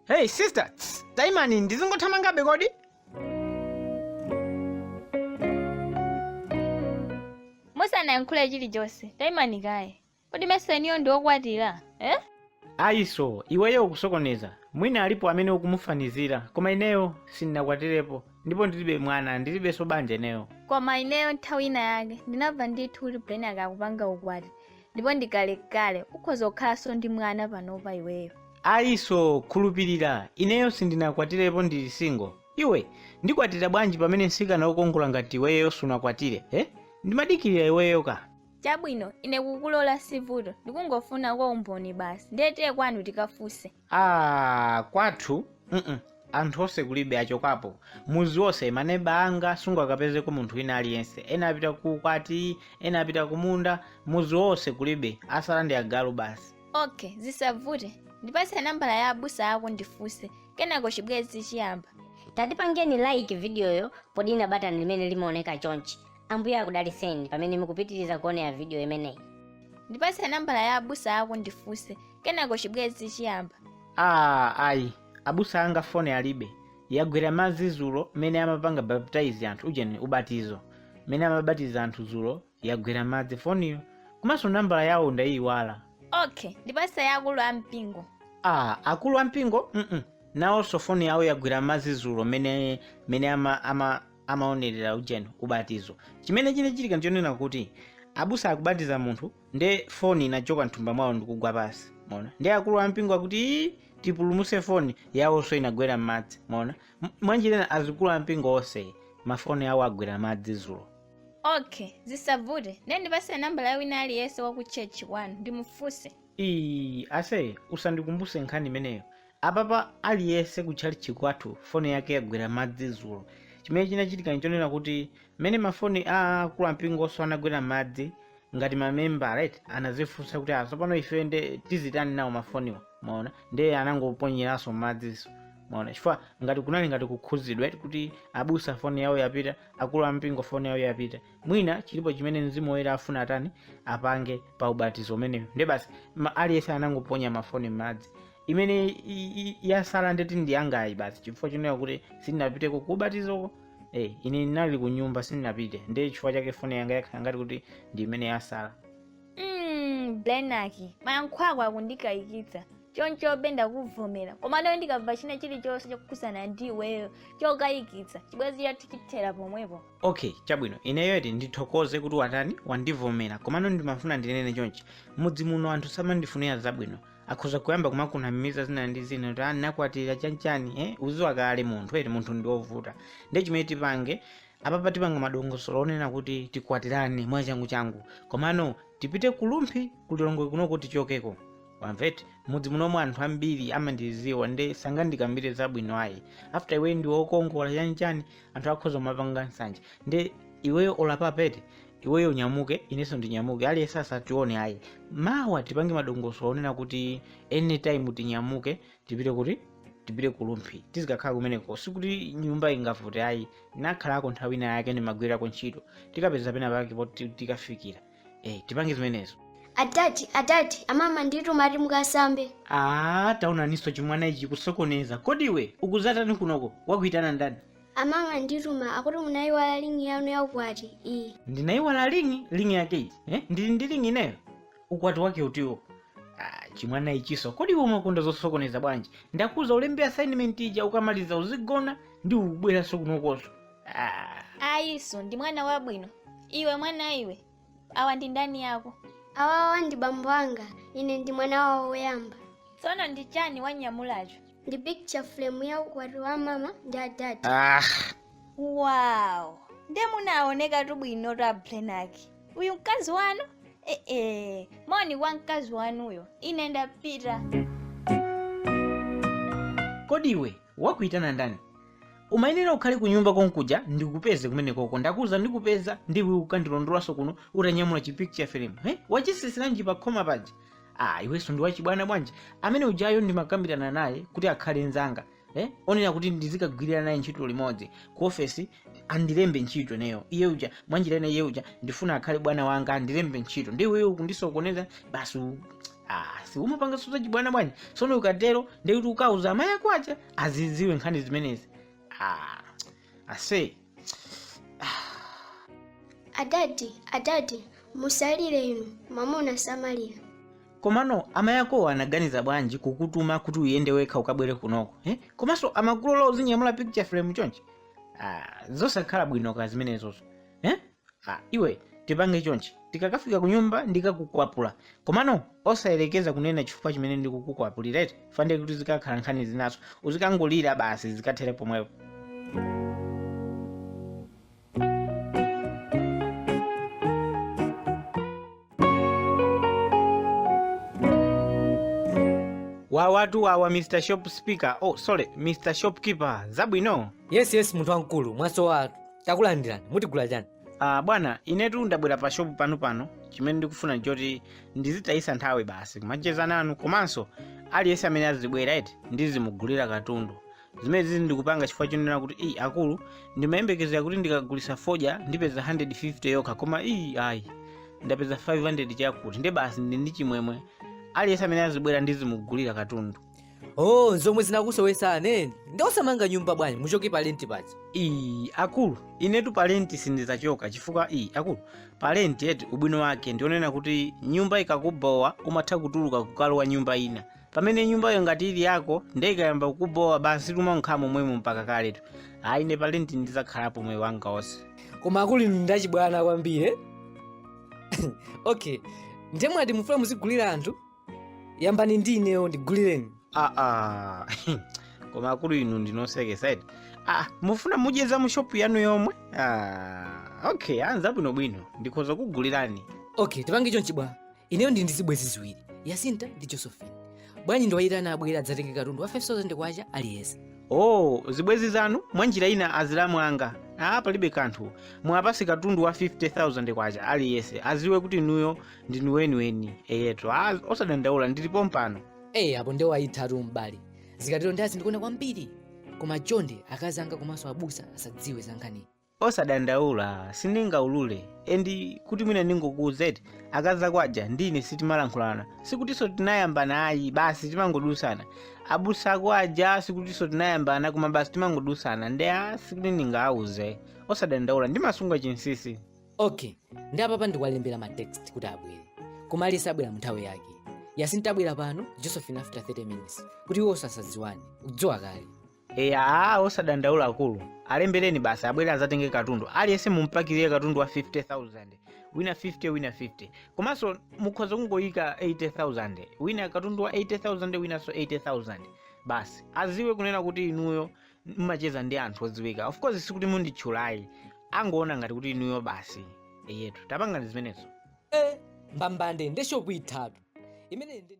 Hey sister, tss, taimani ndizingothamangabe kodi? musanayankhule chilichonse taimani kaye Kodi mesa inuyo ndi okwatira? Eh? Ayiso, iweyo ukusokoneza. Mwina alipo amene ukumufanizira, koma ineyo sindinakwatirepo ndipo ndilibe mwana, ndilibenso banja ineyo. Koma ineyo nthawi ina yake ndinamva ndithu kuti Brian akukapanga ukwati ndipo ndikalekale ukhoza kukhalanso ndi mwana panopa iweyo. Ayiso, khulupirira, ineyo sindinakwatirepo ndili single. Iwe, ndikwatira bwanji pamene mtsikana wokongola ngati iweyo sunakwatire, eh? Ndimadikirira iweyo ka. chabwino ine kukulola sivuto ndikungofunako umboni basi ndiye tiye kwanu tikafunse ah kwathu mm anthu onse kulibe achokapo muzi wonse maneba anga sungakapezeko munthu wina aliyense ena apita ku ukwati ena apita ku munda muzi wonse kulibe asala ndi agalu basi okay zisavute ndipatse nambala ya abusa ako ndifunse kenako chibwezi chiyamba tatipangeni like vidiyoyo podina batani limene limaoneka chonchi Ambuye akudalitseni pamene mukupitiriza kuonera vidiyo imeneyi. ndipatse nambala ya abusa ako ndifunse kenako chibwenzi chiyamba aa ayi abusa anga foni alibe yagwera m'madzi zulo mene amapanga baptize anthu ujeni ubatizo mene amabatiza anthu zulo yagwera m'madzi foniyo komanso nambala yawo ndayiyiwala okay ndipatse ya akulu a mpingo aa akulu ampingo mm nawonso foni yawo yagwera m'madzi zulo mene mene ama, ama amaonerera ujeni ubatizo chimene chinachitika ndichonena kuti abusa akubatiza munthu nde foni inachoka mthumba mwawo ndikugwa pasi mona ndi akulu ampingo akuti "Ii, tipulumuse foni yawonso inagwera m'madzi mona M- mwanjira ina azikuluampingo onse mafoni awo agwera m'madzi zulo okay zisavute ndiye ndipase nambala ya wina aliyense wa ku church kwanu ndimufunse Ii, ase usandikumbuse nkhani imeneyo Apapa aliyese ku tchalichi kwathu foni yake yagwera m'madzi zulo chimene chinachitika nchonena kuti mene mafoni a akulu ampingoso anagwera m'madzi ngati ma membala eti anazifunsa kuti ah sopano ife nde tizitani nawo mafoniwa mwaona nde anangoponyeraso m'madziso mwaona chifukwa ngati kunali ngati kukhuzidwa eti kuti abusa foni yawo yapita akulu ampingo foni yawo yapita mwina chilipo chimene mzimu woyera afuna atani apange pa ubatizo umenewu nde basi ma- aliyese anangoponya mafoni m'madzi imene i- i- i- yasala ndeti ndi yangayi basi chifukwa chonena kuti sindinapite kukubatizoko eh, ine ndinali ku nyumba sindinapite ndi chifukwa chake foni yanga yakhala ngati kuti ndi imene yasala Mm, blenaki mayankho ako akundikayikitsa choncho bwenda kuvomera komano ndikamva china chilichonse chokhudzana ndi iweyo chokayikitsa chibwenzi chathu chithera pomwepo okay chabwino ineyo eti ndithokoze kuti watani wandivomera komano ndimafuna ndinene chonchi mudzi muno anthu samandifunira zabwino akhoza kuyamba kumakunamiza zina ndi zina kuti ah nakwatira chanchani eh uziwa kale munthu eti munthu ndi wovuta ndiye chimene tipange apapa tipanga madongosolo onena kuti tikwatirane mwachangu changu komano tipite kulumphi kulilongwe kunoko tichokeko wamva eti mudzi munomu anthu ambiri amandiziwa nde sangandikambire zabwino ayi after iwe ndi wokongola chanchani anthu akhoza kumapanga nsanje nde iweyo olapa pete iweyo unyamuke inenso ndinyamuke aliyense asatione ayi mawa tipange madongosolo onena kuti anytime tinyamuke tipite kuti tipite kulumphi tizikakhala kumeneko sikuti nyumba ingavute ayi nakhalako nthawi ina yake ndimagwirako ntchito tikapeza pena pake poti tikafikira eh tipange zimenezo adadi adadi amama andituma ati mukasambe aa taonaniso chimwana ichi kusokoneza kodi iwe ukuzatani kunoko wakuitana ndani amama andituma akuti munayiwala lingi yanu yaukwati iyi ndinayiwala lingi lingi yake iti eh? ndili ndi lingi ineyo ukwati wake utiwo ah, chimwana ichiso kodi iwe umakonda zosokoneza bwanji ndakuuza ulembe assignment ija ukamaliza uzigona nde ubweranso kunokoso Ah, ayiso ndi mwana wabwino iwe mwana iwe awa ndi ndani yako awawa ndi bambo anga ine ndi mwana wawo woyamba tsono ndi chani wanyamulacho ndi picture frame ya ukwati wa mama ndi adadi ah, wow nde munaonekatu bwino ta blenaki uyu mkazi wanu ee moni kwa mkazi wanuyo ine ndapita kodi iwe wakuitana ndani umayenera ukhale kunyumba konkuja ndikupeze kumenekoko ndakuuza ndikupeza nde iwe ukandilondolanso kuno utanyamula chipicture frame he wachitsitsiranji pa khoma paja ah iwenso ndi wachibwana bwanji amene ujayo ndimakambirana naye kuti akhale nzanga eh? onena kuti ndizikagwirira naye ntchito limodzi ku ofesi andilembe ntchito ineyo iye uja mwanjira ina iye uja ndifuna akhale bwana wanga andilembe ntchito nde iweyo kundisokoneza basi Ah, si umapanga so zachibwana bwanji sono ukatero ndekuti ukauza amayi ako aja azidziwe nkhani zimenezi ah, ase adadi adadi musalire inu mwamuna samalira komano amayi akowo anaganiza bwanji kukutuma kuti uyende wekha ukabwere kunoko eh? komanso amakulola uzinyamula picture frame chonchi ah, zosakhala bwino ka zimenezozo eh? Ha, iwe tipange chonchi tikakafika kunyumba ndikakukwapula komano osayerekeza kunena chifukwa chimene ndikukukwapulira eti fande kuti zikakhala nkhani zinaso uzikangolira basi zikathera pomwepo wawatu wawa mr shop speaker oh sorry mr shopkeeper zabwino yes yes munthu wamkulu mwasowa takulandirani mutigula chani uh, bwana inetu ndabwera pa shopu panu pano chimene ndikufuna ndichoti ndizitayisa nthawi basi kumacheza nanu komanso aliyense amene azibwera eti ndizimugulira katundu zimenezi ndikupanga chifukwa chonena kuti iyi akulu ndimayembekezera kuti ndikagulisa fodya ndipeza 150 yokha koma iyi ayi ndapeza 500 chakuti nde basi ndi ndi chimwemwe aliyense amene azibwera ndizimugulira katundu oh zomwe zinakusowesa aneni nde osamanga nyumba bwanji muchoke pa lenti paja iyi akulu inetu palenti sindizachoka chifukwa iyi akulu palenti eti ubwino wake ndionena kuti nyumba ikakubowa umatha kutuluka kukalowa nyumba ina pamene nyumbayo ngati ili yako nde ikayamba kukubowa basi umangokhala momwemo mpaka kaletu ayi ine palenti ndizakhalapo moyo wanga wonse koma akulu inu ndachibwana kwambiri eh? okay nde mwati mufuna muzigulira anthu yambani ndi ineyo ndigulireni aa koma akulu inu ndinu osekesa eti ah, mufuna mudye za mushopu yanu yomwe ah, okay anza bwinobwino ndikhoza kukugulirani okay tipange chonchi bwana ineyo ndi ndi zibwenzi ziwiri yasinta ndi josephine bwanji ndiwayitane abwere adzatenge katundu wa 5000 kwacha aliyense oh zibwenzi zanu mwa njira ina azilamu anga ah palibe kanthu muwapase katundu wa 50000 kwacha aliyense aziwe kuti inuyo ndinu weniweni eyetu ah, osadandaula ndili pompano eyi apo nde wayithatu m'bale zikatero ndi azindikona kwambiri koma chonde akazi anga komanso abusa asadziwe za nkhaniyi Osadandaula sindingaulure and kuti mwina ndingokuuza eti akazi ako aja ndi ine sitimalankhulana sikutinso tinayambana ayi basi timangodusana abusa ako aja sikutinso tinayambana koma basi timangodusana nde a sikuti ndingawauze osadandaula ndimasunga chinsisi okay nde apapa ndikwalembera ma text kuti abwere koma aliyense abwera mu nthawi yake yasinta abwera pano josephine after 30 minutes kuti iwo asadziwane udziwa kale eya aa osadandaula akulu alembereni basi abwere azatenge katundu aliyense mumpakirire katundu wa 50000 wina 50 wina 50 komanso mukhoza kungoyika 80000 wina katundu wa 80000 winanso 80000 basi aziwe kunena kuti inuyo mmacheza ndi anthu odziwika of course sikuti munditchula ayi angoona ngati kuti inuyo basi eyetu tapangani zimenezo mbambande nde shopu ithatu imene ndi